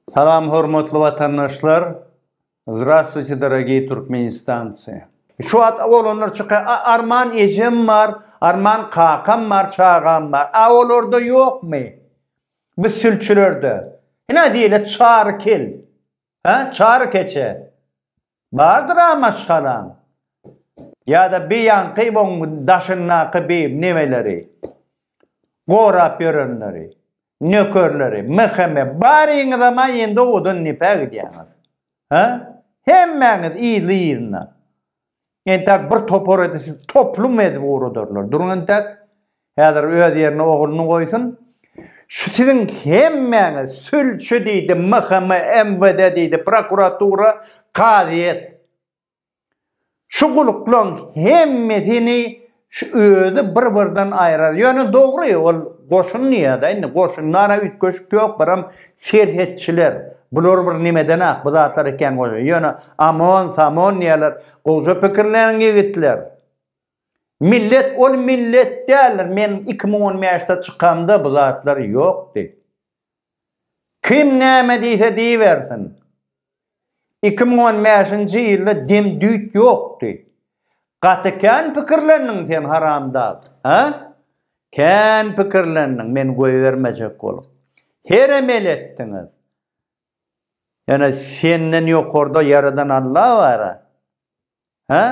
Salam hormatly watandaşlar Zdravstvuyte dorogiý Türkmenistancy. Şu wagt oglanlar çyka a arman ejem bar arman kakam bar çagam bar a olarda ýokmy bu sülçülerde hine diýle çary kel he çary keçe Bardyr-a maşgalaň. Ýa-da bi ýaňky oň daşyndaky bi nemeleri, gorap ýörenleri, nökerleri, mhme, baryňyzam-a indi owadan nepe gidýäňiz. Hä? Hemmäňiz yzly-yzyna. Entäk bir topar edip, sizi toplum edip ugradarlar. Duruň entäk. Häzir öz ýerine ogluny goýsun. Şu siziň hemmäňiz sülçi diýdi, MHM, MWD diýdi, prokuratura, kazyýet. Şu guluklaň hemmesini şu özi bir-birden aýrar. Ýöne dogry, ol goşun diýýär-de, indi goşundan-a üýtgeşik ýok, biram serhetçiler. Bular bir nimeden-ak bu zatlar ekeni goýy. Ýöne OMON, SOMON diýýärler, gowja pikirleniň ýigitler. Millet ol millet däldir men iki müň on bäşde çykamda bu zatlar ýokdy. Kim näme diýse diýibersin. Iki müň on bäşinji ýylda dem düýt ýokdy. Gaty kän pikirlendiň sen haramdag. Hä? Kän pikirlendiň men goýbermejek bolup. Herem el etdiňiz. Ýöne senden ýokarda ýaradan Alla bara. Hä?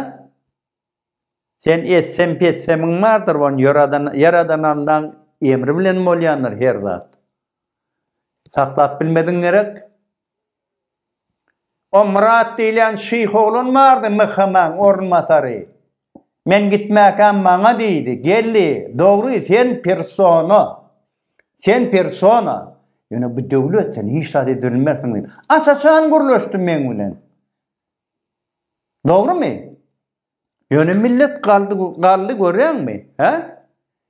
Sen etsem petsemiň bardyr on ýöradan ýaradan Allaň emri bilen bolýandyr her zat. Saklap bilmediň gerek. O Myrat diýilýän şyh oglan bardy MHM-iň orunbasary. Men gitmäkäm maňa diýdi, Geldi, dogry sen persona. Sen persona. Ýöne bu döwlet sen hiç zat edip bilmersiň diýdi. Aç-açan gürleşdi meň bilen. Dogrymy? Ýöne millet galdy, galdy görýäňmi? Hä?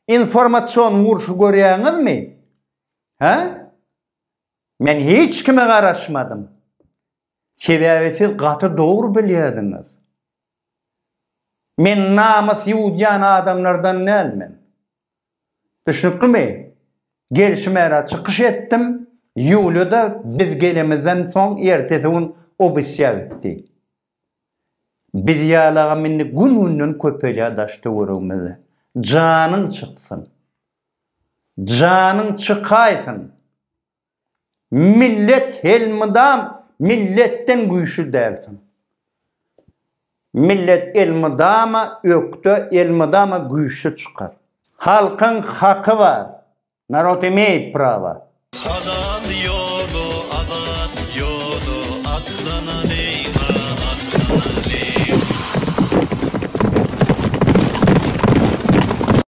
Informasion urşy görýäňizmi? Hä? Men hiç kime garaşmadym. Sebäbi siz gaty dogry bilýärdiňiz. Men namys ýuwdýan adamlardan dälmen. Düşnüklimi? Gelşime gara çykyş etdim, Ýuliýa-da biz gelemizden soň ertesi gün obisýa gitdi. Biz ýalagam indi gün-günden köpelýär daş-töweregimizde. Janyň çyksyn! Janyň çykaýsyn! Millet helmydam milletden güýçli dälsiň. Millet elmydama ökde elmydama güýçli çykar. Halkyň haky bar. Narod imeýt prawa. Azat ýoly azat ýoly atlanalýa atlanalýa.